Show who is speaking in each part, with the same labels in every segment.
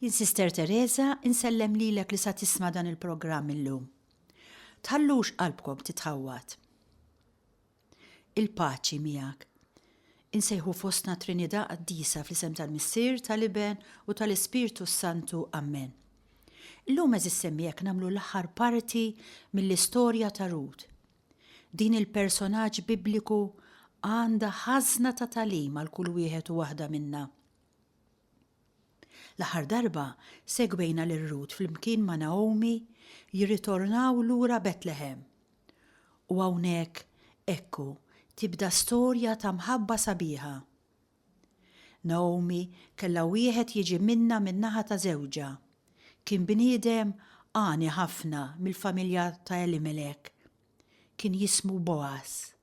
Speaker 1: Jien Sister Teresa insellem lilek li sa tisma' dan il-programm illum. Tħallux qalbkom titħawwad. Il-paċi miegħek. Insejħu fostna Trinità Qaddisa fl-isem tal-Missier, tal-Iben u tal-Ispirtu s-Santu. Amen. Illum eżis semmijek namlu l-aħħar parti mill-istorja ta' Rut. Din il-personaġġ bibliku għandha ħażna ta' talim għal kull wieħed u waħda minna. L-aħħar darba segwejna lil Rut flimkien ma' Naomi jirritornaw lura Betlehem. U hawnhekk, ekku, tibda storja ta' mħabba sabiħa. Naomi kellha wieħed jiġi minnha min-naħa ta' żewġha. Kien bniedem għani ħafna mill-familja ta' Elimelek. Kien jismu Boaz.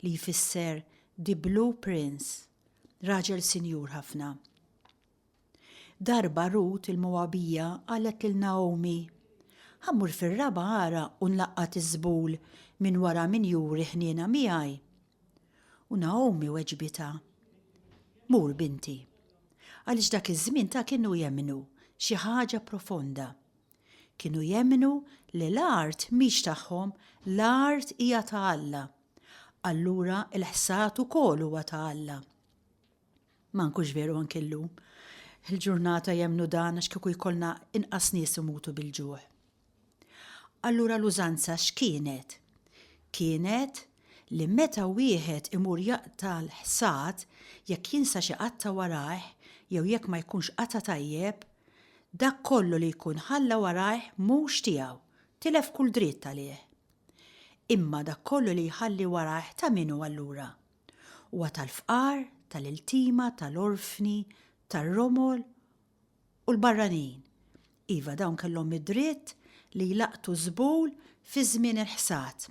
Speaker 1: li jfisser The Blue Prince, raġel sinjur ħafna. Darba Rut il-Mowabija qalet lil Naomi, Ħa mmur fir-raba' ara u nlaqqat iż-żbul minn wara min juri ħniena miegħi. U Naomi weġbitha, Mur binti. Għaliex dak iż-żmien ta' kienu jemmnu xi ħaġa profonda Kienu jemmnu li l-art mhix tagħhom, l-art hija ta' Alla. Allura l-ħsad ukoll huwa ta' Alla. Ma nkunx veru anke llum. Il-ġurnata jemmnu dan għax kieku jkollna inqas nies imutu bil-ġuħ. Allura l-użanza x'kienet? Kienet li meta wieħed imur jaqta' l-ħsad, jekk jinsa xi qatta warajh, jew jekk ma jkunx qata' tajjeb, Dak kollu li jkun ħalla warajh mhux tiegħu, tilef kull dritt għalih. Imma dak kollu li jħalli warajh ta' min hu allura? Huwa tal-fqar, tal-iltima, tal-orfni, tar-romol u l-barranin. Iva, dawn kellhom id-dritt li jlaqqtu żbul fi żmien il-ħsad.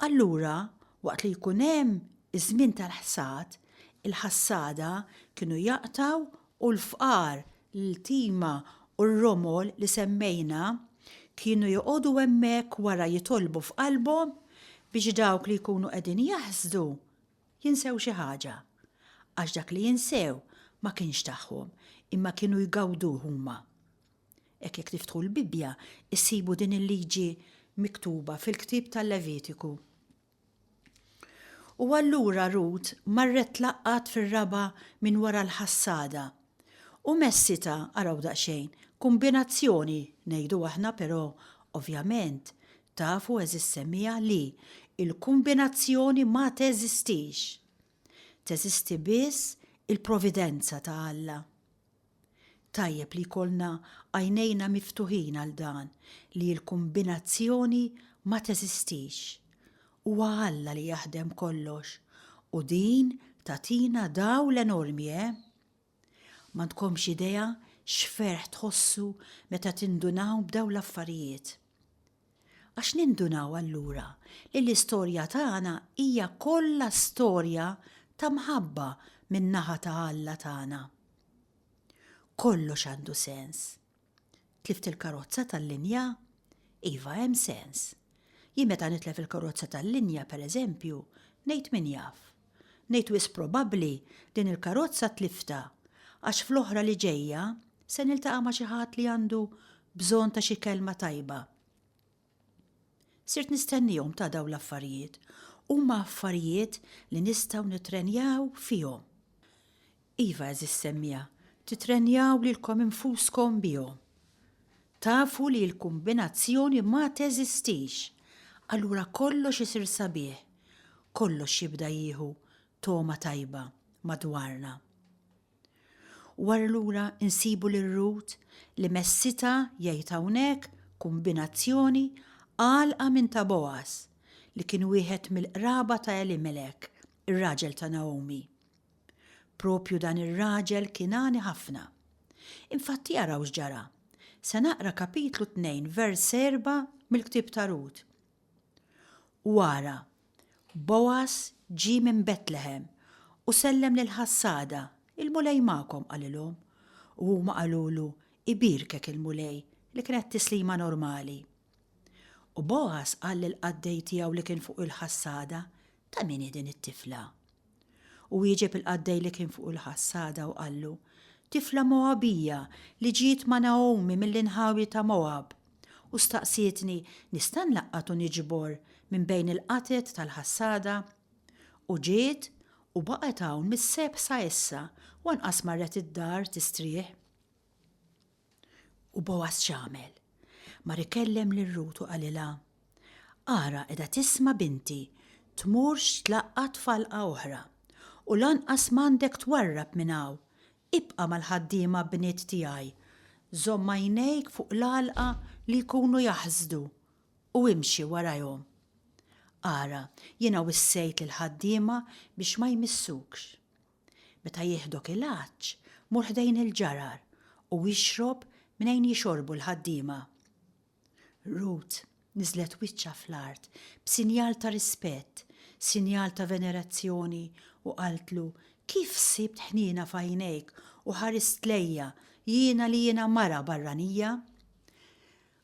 Speaker 1: Allura, waqt li jkun hemm iż-żmien tal-ħsad, il-ħassada kienu jaqtgħu u l-fqar, l-iltima u r-romol li semmejna kienu joqogħdu hemmhekk wara jitolbu f'qalbhom biex dawk li jkunu qegħdin jaħsdu jinsew xi ħaġa, għax dak li jinsew ma kienx tagħhom imma kienu jgawduh huma. Hekk jekk tiftħu l-Bibbja, issibu din il-liġi miktuba fil-ktieb tal-Levitiku. U allura Rut marret tlaqqat fir-raba minn wara l-ħassada. U messita, araw daqsxejn, kombinazzjoni, ngħidu aħna però, ovvjament, tafu eżis semija li il-kombinazzjoni ma teżistix. Teżisti biss il-providenza ta' Alla. Tajjeb li jkollna għajnejna miftuħin għal dan li l-kumbinazzjoni ma teżistix. Huwa Alla li jaħdem kollox u din tagħtina dawl enormi, eh? M'għandkomx idea x'ferħ tħossu meta tindunaw b'dawn l-affarijiet. Għax nindunaw allura li l-istorja tagħna hija kollha storja ta' mħabba min-naħa ta' Alla tagħna. Kollox għandu sens. Tlift il-karozza tal-linja? Iva hemm sens. Jien meta nitlef il-karozza tal-linja, pereżempju, ngħid min jaf. Ngħid wisq probabbli, din il-karozza tliftha, għax fl-oħra li ġejja se niltaqa' ma' xi ħadd li għandu bżonn ta' xi kelma tajba. Sirt nistennihom ta' dawn l-affarijiet. Huma affarijiet li nistgħu nittrenjaw fihom. Iva, għeżież semmiegħa, tittrenjaw lilkom infuskom bihom. Tafu li l-kumbinazzjoni ma teżistix, allura kollox isir sabiħ, kollox jibda jieħu togħma tajba madwarna. U allura insibu lil Ruth li messitha jgħid hawnhekk kumbinazzjoni għalqa minn ta' Boaz, li kien wieħed mill-qraba ta' Elimelek, ir-raġel ta' Naomi. Proprju dan ir-raġel kien għani ħafna. Infatti araw x'ġara. Se naqra kapitlu 2 vers 4 mill-ktieb ta' Rut. U ara, Boas ġie minn Betlehem u sellem lill-ħassada, il-Mulej magħkom qalilhom. U huma qalulu, Ibierkek il-Mulej, li kienet tislima normali. U Boas qal lill-qaddej tiegħu li kien fuq il-ħassada, Ta' min hi din it-tifla? U wieġeb il-qaddej li kien fuq il-ħassada u qallu, Tifla Mogħabija li ġiet ma' Nagħomi mill-inħawi ta' Mogħab, u staqsietni, 'Nista' nlaqqat u niġbor minn bejn il-qatgħet tal-ħassada? U ġiet u baqgħet hawn mis-sebħ sa issa, u anqas marret id-dar tistrieħ. U Boaz x'għamel? Mar ikellem lil Rut u qalilha, Ara qiegħda tisma' binti, tmurx tlaqqat f'għalqa oħra, u lanqas m'għandek twarrab minn hawn, ibqa' mal-ħaddiema bniet tiegħi, żomm għajnejk fuq l-għalqa li jkunu jaħsdu, u imxi warajhom. Ara, jiena wissejt lill-ħaddiema biex ma jmissukx. Meta jieħdok il-għatx, mur ħdejn il-ġarar u ixrob mnejn jixorbu l-ħaddiema. Rut niżlet wiċċha fl-art b'sinjal ta' rispett, sinjal ta' venerazzjoni u qaltlu, Kif sibt ħniena f'għajnejk u ħarist lejja, jiena li jiena mara barranija?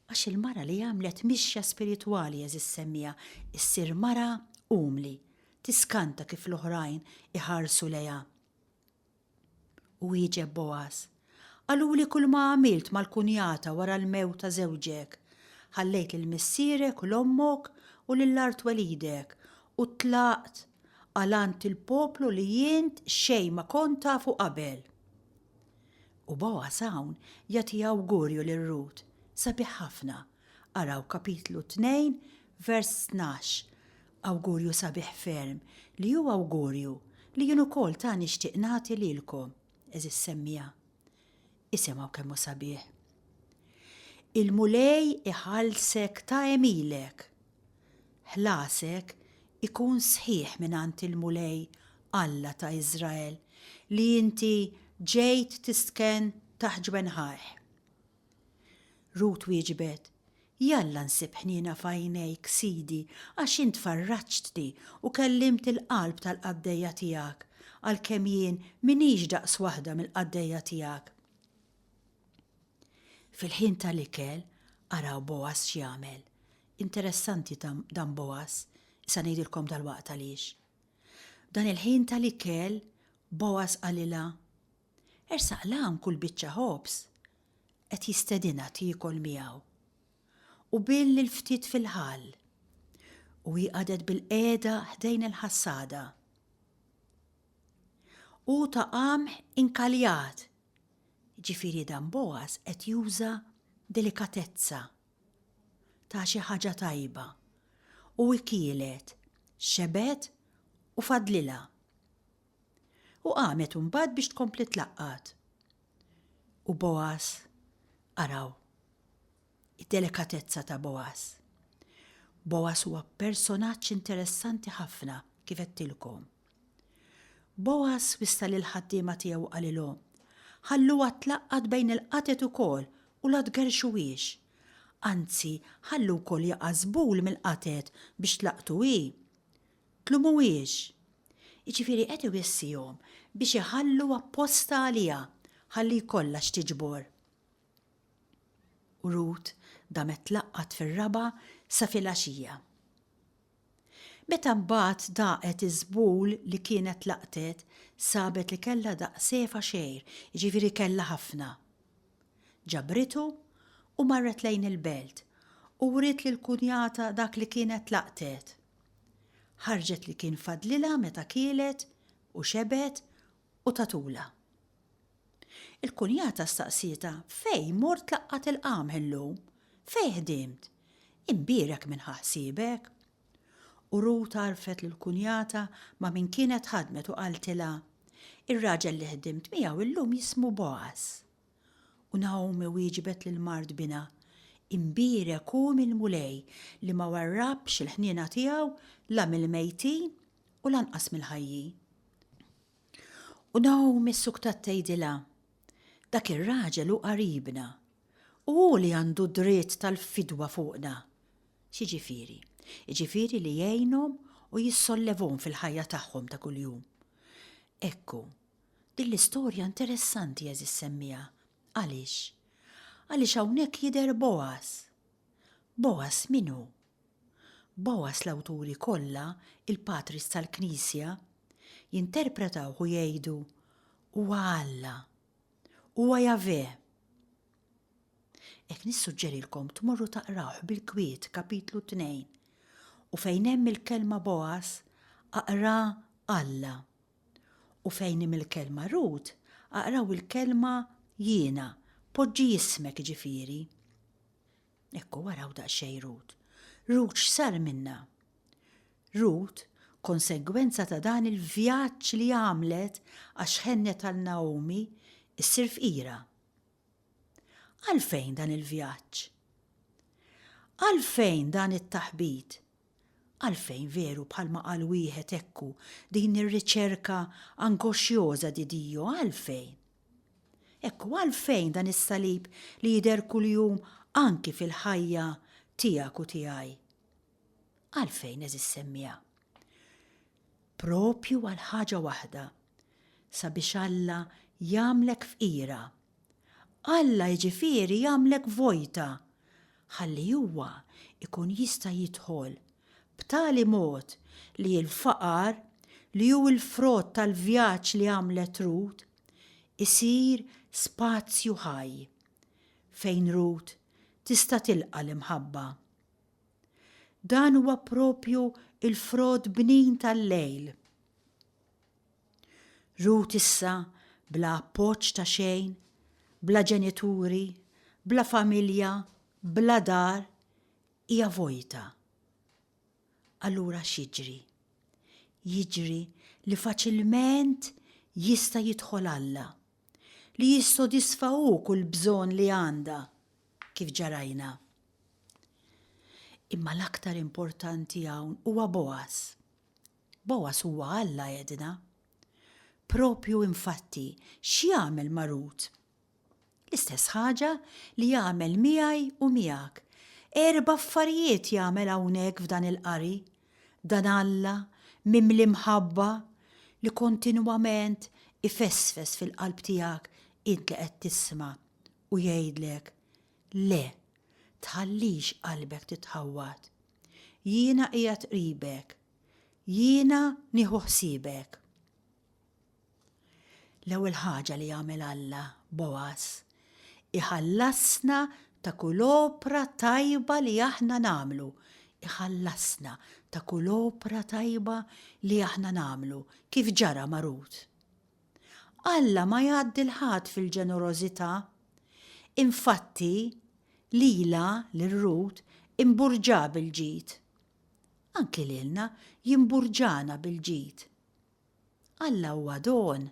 Speaker 1: Għax il-mara li għamlet mixja spiritwali għeżież semmiegħa ssir mara umli, tiskanta kif l-oħrajn iħarsu lejha. U wieġeb Bogħaż, Qaluli kulma għamilt mal-kunjata wara l-mewt ta' żewġek. Ħallejt lil missierek u 'l ommok u lil art twelidek, u tlaqt għal għand il-poplu li int xejn ma kont tafu qabel. U Boaz hawn jagħti awgurju lil Rut, sabiħ ħafna, araw kapitlu 2 vers 12, awgurju sabiħ ferm li hu awgurju li jien ukoll ta' nixtieq nagħti lilkom, eżis semmiegħa. Isimgħu kemm hu sabiħ. Il-Mulej iħallsek ta' għemilek, Ħlasek ikun sħiħ mingħand il-Mulej Alla ta' Iżrael li inti ġejt tistkenn taħt ġwenħajh. Rut wieġbet, Jalla nsib ħniena f'għajnejk, sidi, għax int farraġtni u kellimt il-qalb tal-qaddejja tiegħek, għalkemm jien m'iniex daqs waħda mill-qaddejja tiegħek. Fil-ħin tal-ikel, araw Bogħaż x'jagħmel. Interessanti dan Bogħaż, issa ngħidilkom dalwaqt għaliex. F'dan il-ħin tal-ikel, Bogħaż qalilha, Ersaq l-hawn kull biċċa ħobż. Qed jistedinha tiekol miegħu. U bil lil ftit fil-ħall. U hi qagħdet bil-qiegħda ħdejn il-ħassada. U ta' qamħ inkaljat, Jiġifieri dan Boaz qed juża delikatezza, ta xi ħaġa tajba, u kielet, xebgħet u fadlilha. U qamet imbagħad biex tkompli tlaqqat. U Boaz, araw, id-delikatezza ta' Boaz. Boaz huwa personaġġ interessanti ħafna kif qedtilkom. Boaz wissa lill-ħaddiema tiegħu u qalilhom, Ħalluha tlaqqat bejn il-qatgħet ukoll u la tgerrxuhiex. Anzi, ħallu wkoll jaqa' żbul mill-qatgħet biex tlaqqtu hi. Tlumuhiex. Jiġifieri qed iwissihom biex iħallu apposta għaliha ħalli jkollha x'tiġbor. U Rut damet tlaqqat fir-raba' sa filgħaxija. Meta mbagħad daqet iż-żbul li kienet laqtet, sabet li kellha daqs sefa xgħir, jiġifieri kellha ħafna. Ġabritu u marret lejn il-belt u wriet lill-kunjata dak li kienet laqtet. Ħarġet li kien fadlilha meta kielet u xebgħet u tatulha. Il-kunjata staqsietha fejn mort tlaqqat il-qamħ illum? Fejn ħdimt? Imbierek min ħa ħsiebek? U Rut għarfet lill-kunjata ma' min kienet ħadmet u qaltilha, Ir-raġel li ħdimt miegħu illum jismu Bogħaż. U Nagħomi wieġbet lil mard binha, Imbierek hu mill-Mulej li ma warrabx il-ħniena tiegħu la mill-mejtin u lanqas mill-ħajjin. U Naomi ssuktat tgħidilha, Dak ir-raġel hu qaribna, u hu li għandu d-dritt tal-fidwa fuqna. X'jiġifieri? Jiġifieri li jgħinhom u jissollevhom fil-ħajja tagħhom ta' kuljum. Ekku, din l-istorja interessanti, għeżież semmiegħa. Għaliex? Għaliex hawnhekk jidher Boaz, Boas min hu? Boas l-awturi kollha, il-patris tal-Knisja, jinterpretawh u jgħidu, Huwa Alla. Huwa Jahveh. Hekk nissuġġerilkom tmorru taqrawh bil-kwiet kapitlu tnejn u fejn hemm il-kelma Boas aqra Alla. U fejn hemm il-kelma Rut, aqraw il-kelma jiena, poġġi ismek jiġifieri. Ekku waraw daqsxejn Rut. Rut x'sar minnha? Rut, konsegwenza ta' dan il-vjaġġ li għamlet għax ħennet għal Naomi, issir fqira. Għalfejn dan il-vjaġġ? Għalfejn dan it-taħbit? Għalfejn veru bħalma qal wieħed hekku din ir-riċerka angoxjoża di Dio, għalfejn? Hekku għalfejn dan is-salib li jidher kuljum anki fil-ħajja tiegħek u tiegħi? Għalfejn għeżiż semmiegħa? Proprju għal ħaġa waħda, sabiex Alla jagħmlek fqira Alla jiġifieri jagħmlek vojta, ħalli huwa jkun jista' jidħol, b'tali mod li l-faqar, li hu l-frott tal-vjaġġ li għamlet Rut, isir spazju ħaj, fejn Rut tista' tilqa' l-imħabba. Dan huwa proprju l-frott bnin tal-lejl. Ruth issa bla appoġġ ta' xejn, bla ġenituri, bla familja, bla dar, hija vojta. Allura x'jiġri? Jiġri li faċilment jista' jidħol Alla, li jissodisfa hu kull bżonn li għandha, kif ġarajna. Imma l-aktar importanti hawn huwa Boaz. Boaz huwa Alla għedna. Proprju infatti, x'jagħmel ma' Rut? L-istess ħaġa li jagħmel miegħi u miegħek. Erba' affarijiet jagħmel hawnhekk f'dan il-qari. Dan Alla mimli mħabba li kontinwament ifesfes fil-qalb tiegħek int li qed tisma' u jgħidlek, Le, tħallix qalbek titħawwad. Jiena qiegħed qribek. Jiena nieħu ħsiebek. L-ewwel ħaġa li jagħmel Alla, Boaz, iħallasna ta' kull opra tajba li aħna nagħmlu. Iħallasna ta' kull opra tajba li aħna nagħmlu, kif ġara marut. Alla ma jgħaddi l-ħadd fil-ġenerożità. Infatti, lila, l-Rut, imburġa bil-ġid. Anki lilna jimburġana bil-ġid. Alla huwa don,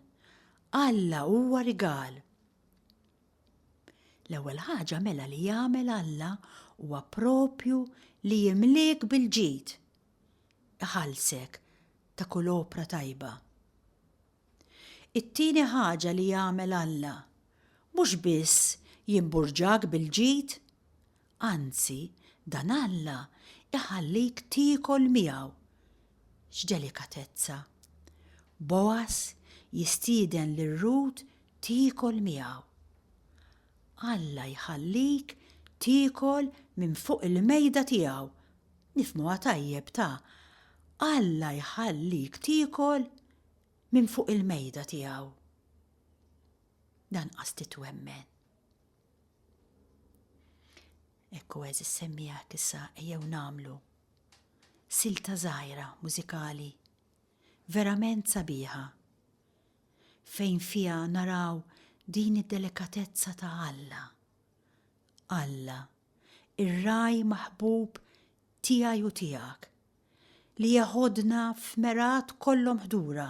Speaker 1: Alla huwa rigal. L-ewwel ħaġa mela li jagħmel Alla huwa proprju li jimliek bil-ġid, iħallsek ta' kull opra tajba. It-tieni ħaġa li jagħmel Alla mhux biss jimburġak bil-ġid, Anzi, dan Alla jħallik tiekol miegħu. X'delikatezza! Boaz jistieden lil Rut tiekol miegħu. Alla jħallik tiekol minn fuq il-mejda tiegħu. Nifhmuha tajjeb ta', Alla jħallik tiekol minn fuq il-mejda tiegħu. Lanqas titwemmen. Ekku eżis semmija kissa ejjew namlu silta żgħira mużikali verament sabiħa fejn fiha naraw din id-delikatezza ta' Alla. Alla, ir-ragħaj maħbub tiegħi u tiegħek, li jeħodna f'mergħat kollhom ħdura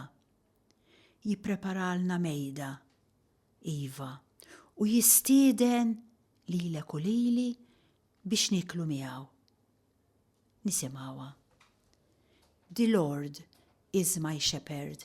Speaker 1: jippreparalna mejda, iva, u jistieden lilek u lili biex nieklu miegħu. Nisimgħuha. The Lord is my shepherd.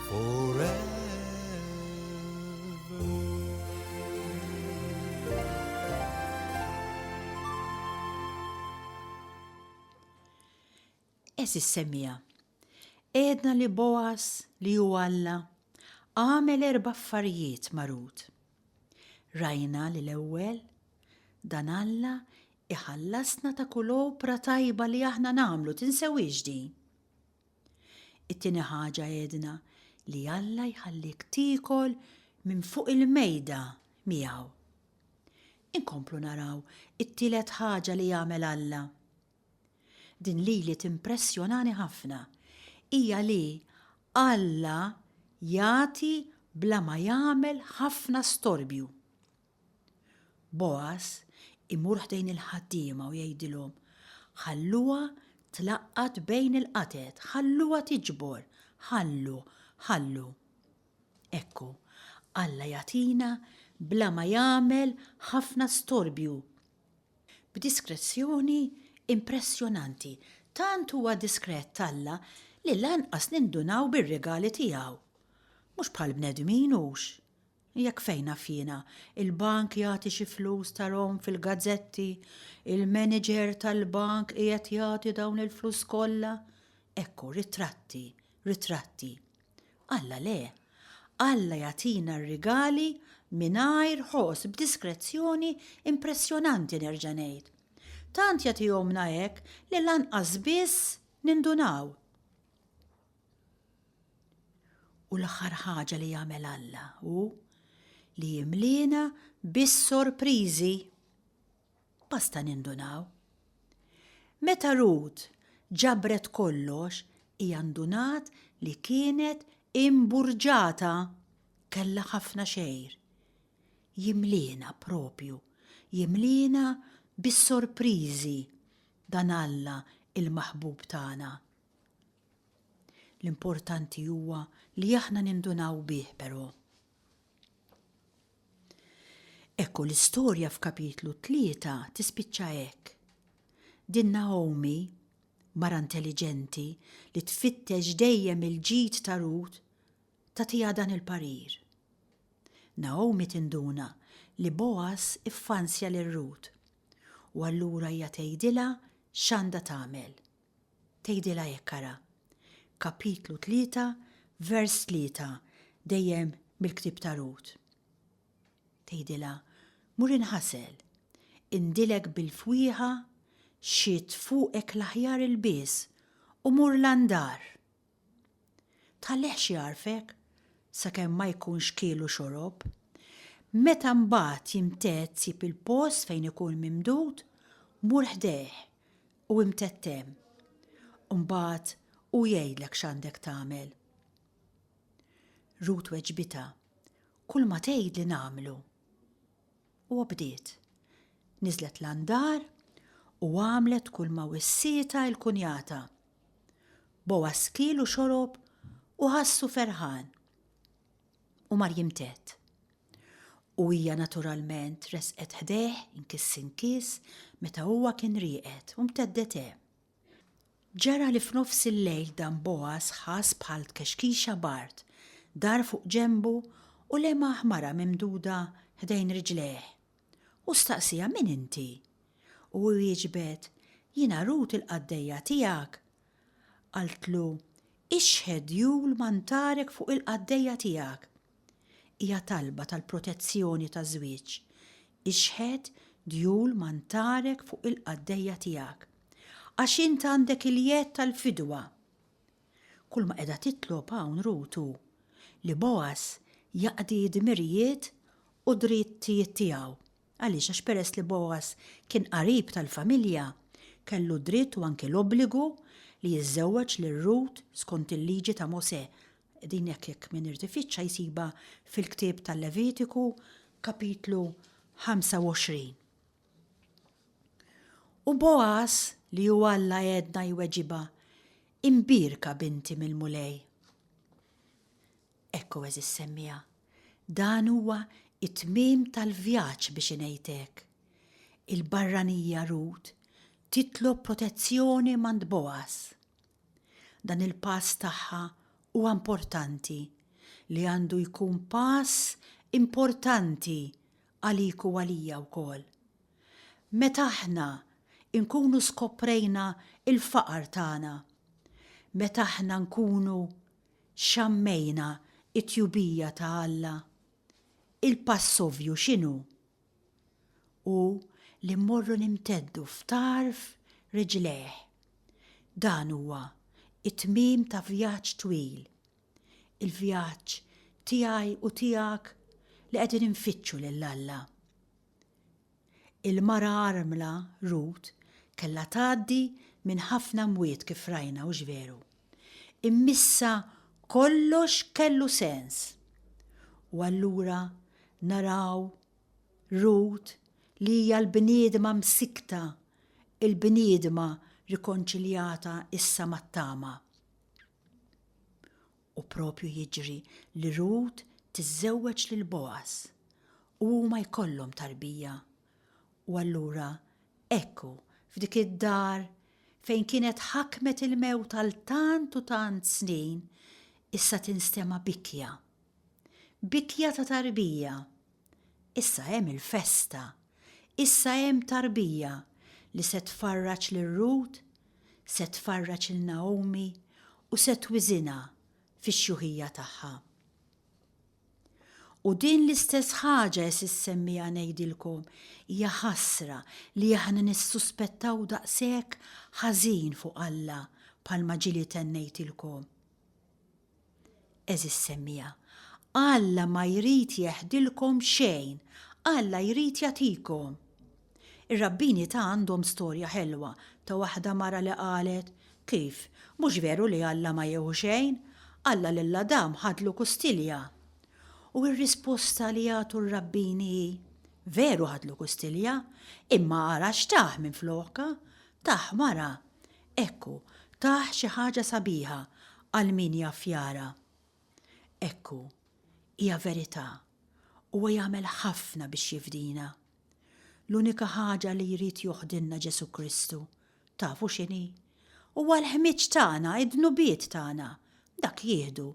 Speaker 1: Eżis semija. Edna li Boas li hu Alla għamel erba' affarijiet marut. Rajna li l-ewwel dan Alla iħallasna ta' kull opra tajba li aħna nagħmlu tinsewix din. It-tieni ħaġa għedna li Alla jħallik tiekol minn fuq il-mejda miegħu. Inkomplu naraw it-tielet ħaġa li jagħmel Alla. Din lili timpressjonani ħafna. Hija li Alla jagħti bla ma jagħmel ħafna storbju. Boaz imur ħdejn il-ħaddiema u jgħidilhom, Ħalluha tlaqqat bejn il-qatgħet, ħalluha tiġbor, ħallu, ħallu. Ekku, Alla jagħtina bla ma jagħmel ħafna storbju, b'diskrezzjoni impressjonanti. Tant huwa diskrett Alla li lanqas nindunaw bir-rigali tiegħu. Mhux bħall-bnedmin, hux? Jekk fejn naf jiena, il-bank jagħti xi flus tarhom fil-gazzetti, il-manager tal-bank qiegħed jagħti dawn il-flus kollha. Ekku, ritratti, ritratti. Alla le! Alla jagħtina r-rigali mingħajr ħoss b'diskrezzjoni impressjonanti nerġa' ngħid. Tant jagħtihomna hekk li lanqas biss nindunaw. U l-aħħar ħaġa li jagħmel Alla hu li jimliena bis-sorpriżi. Basta nindunaw. Meta Rut ġabret kollox, hija ndunat li kienet imburġata kellha ħafna xejr. Jimliena propju, jimliena bis-sorpriżi dan Alla il-maħbub tagħna. L-importanti huwa li aħna nindunaw bih però. Ekku l-istorja f'kapitlu tlieta tispiċċa hekk. Din Naomi, mara intelliġenti li tfittex dejjem il-ġid ta' Rut, tagħtiha dan il-parir. Naomi tinduna li Boaz iffansja lil Rut u allura hija tgħidilha x'għandha tagħmel. Tgħidilha hekk ara Kapitlu 3 vers 3 dejjem mill-Ktieb ta' Rut. Tgħidilha, Mur inħasel, indilek bil-fwieħa, xidd fuqek l-aħjar ilbies u mur l-andar. Tħallih x'jagħrfek, sakemm ma jkunx kiel u xorob. Meta mbagħad jimtedd tsib il-post fejn ikun mimdud, mur ħdejh u imtedd hemm. Mbagħad hu jgħidlek x'għandek tagħmel. Rut weġbitha, Kulma tgħidli nagħmlu. U obdiet. Niżlet l-andar u għamlet kulma wissietha l-kunjata. Boaz kiel u xorob u ħassu ferħan u mar jimtedd. U hija naturalment resqet ħdejh inkiss inkiss meta huwa kien rieqed u mteddet hemm. Ġara li f'nofs il-lejl dan Boaz ħass bħal tkexkixa b'art, dar fuq ġenbu u lemaħ mara mimduda ħdejn riġlejh. u staqsieha min inti? U hi wieġbet, Jiena Rut il-qaddejja tiegħek. Qaltlu, Ixħed jul ma ntarek fuq il-qaddejja tiegħek. Hija talba tal-protezzjoni ta' żwieġ. Ixħed djul ma ntarek fuq il-qaddejja tiegħek. Għax int għandek il-jedd tal-fidwa. Kull ma qiegħda titlob hawn Rut hu li Bogħaż jaqdi d-dmirijiet u d-drittijiet tiegħu. Għaliex? Għax peress li Bogħaż kien qarib tal-familja, kellu d-dritt u anki l-obbligu li jiżżewweġ lil Rut skont il-Liġi ta' Mosè. Din hekk jekk min irid ifittxha jsibha fil-ktieb tal-Levitiku, Kapitlu 25. U Bogħaż, li hu Alla għedna jweġibha, Imbierka binti mill-Mulej. Hekk hu għeżież semmiegħa, dan huwa t-tmiem tal-vjaġġ biex ingħid hekk. Il-barranija Rut titlob protezzjoni m'għand Bogħaż. Dan il-pass tagħha huwa importanti li għandu jkun pass importanti għalik u għalija wkoll. Meta aħna nkunu skoprejna l-faqar tagħna, meta aħna nkunu xammejna t-tjubija ta' Alla, il-pass ovvju x'inhu? Hu li mmorru nimteddu f'tarf riġlejh. Dan huwa t-tmiem ta' vjaġġ twil. il-vjaġġ tiegħi u tiegħek li qegħdin infittxu lil Alla. Il-mara armla Rut kellha tgħaddi minn ħafna mwiet kif rajna hux veru? Immissa kollox kellu sens. U allura naraw Rut li hija l-bniedma msikkta, il-bniedma rikonċiljata issa mat-tama. U proprju jiġri li Rut tiżżewweġ lil Bogħaż, u huma jkollhom tarbija. U allura, ekku, f'dik id-dar fejn kienet ħakmet il-mewt għal tant u tant snin, issa tinstema' bikja. Bikja ta' tarbija, Issa hemm il-festa! Issa hemm tarbija li se tfarraġ lil Rut, se tfarraġ lil Nagħomi u se twiżinha fix-xjuħija tagħha. U din l-istess ħaġa qes issemmiha ngħidilkom, hija ħasra li aħna nissuspettaw daqshekk ħażin fuq Alla bħalma ġieli tennejtilkom. Għeżież semmiegħa, Alla ma jrid jeħdilkom xejn, Alla jrid jagħtikom. Ir-rabbini ta' għandhom storja ħelwa ta' waħda mara li qalet, Kif, mhux veru li Alla ma jieħu xejn? Alla lil Adam ħadlu kustilja. U r-risposta li jagħtu r-rabbini hi, Veru ħadlu kustilja, imma ara x'tah minflokha, tah mara Ekku, tah xi ħaġa sabiħa għal min jaf jara. Ekku, hija verità, huwa jagħmel ħafna biex jifdina. L-unika ħaġa li jrid joħdilna Ġesù Kristu, tafu x'inhi? Huwa l-ħmieġ tagħna, id-dnubiet tagħna, dak jieħdu,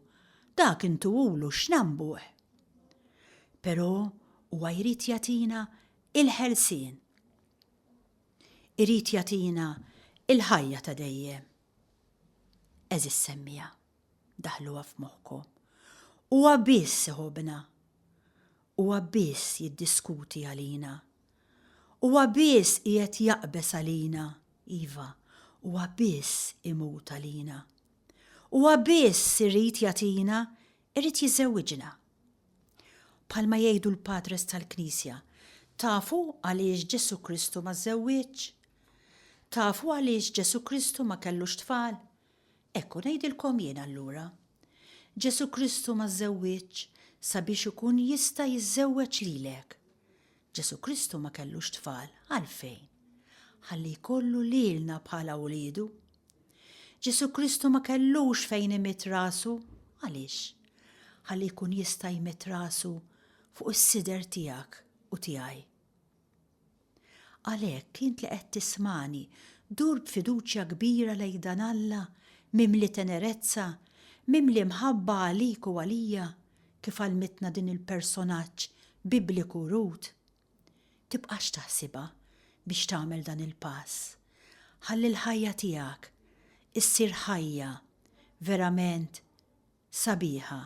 Speaker 1: dak intuhulu x'nambuh. Però huwa jrid jagħtina il-ħelsien. irid jagħtina l-ħajja ta' dejjem. Għeżież semmiegħa, daħħluha f'moħħkom, Huwa biss iħobbna. Huwa biss jiddiskuti għalina. Huwa biss qiegħed jaqbeż għalina, iva, huwa biss imut għalina. Huwa biss irid jagħtina Irid jiżżewwiġna. Bħalma jgħidu l-Padres tal-Knisja, tafu għaliex Ġesù Kristu ma żżewwiġx? Tafu għaliex Ġesù Kristu ma kellux tfal? Ekku ngħidilkom jien allura. Ġesù Kristu ma żżewwiġx sabiex ikun jista' jiżżewweġ lilek. Ġesù Kristu ma kellux tfal, għalfejn? Ħalli jkollu lilna bħala wliedu. Ġesù Kristu ma kellux fejn imitt rasu, għaliex? Ħalli jkun jista' jmitt rasu fuq is-sider tiegħek u tiegħi. Għalhekk int li qed tismani, dur b'fiduċja kbira lejn dan Alla, mimli tenerezza, mimli mħabba għalik u għalija, kif għallmitna din il-personaġġ Bibliku Rut, tibqax taħsibha biex tagħmel dan il-pass. Ħalli l-ħajja tiegħek issir ħajja verament sabiħa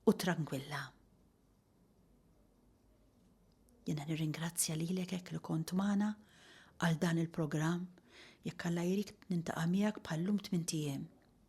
Speaker 1: u trankwilla. Jiena nirringrazzja lilek hekk li kont magħna għal dan il-programm jekk Alla jrid nintaqa' miegħek bħal-lum tmien tiem.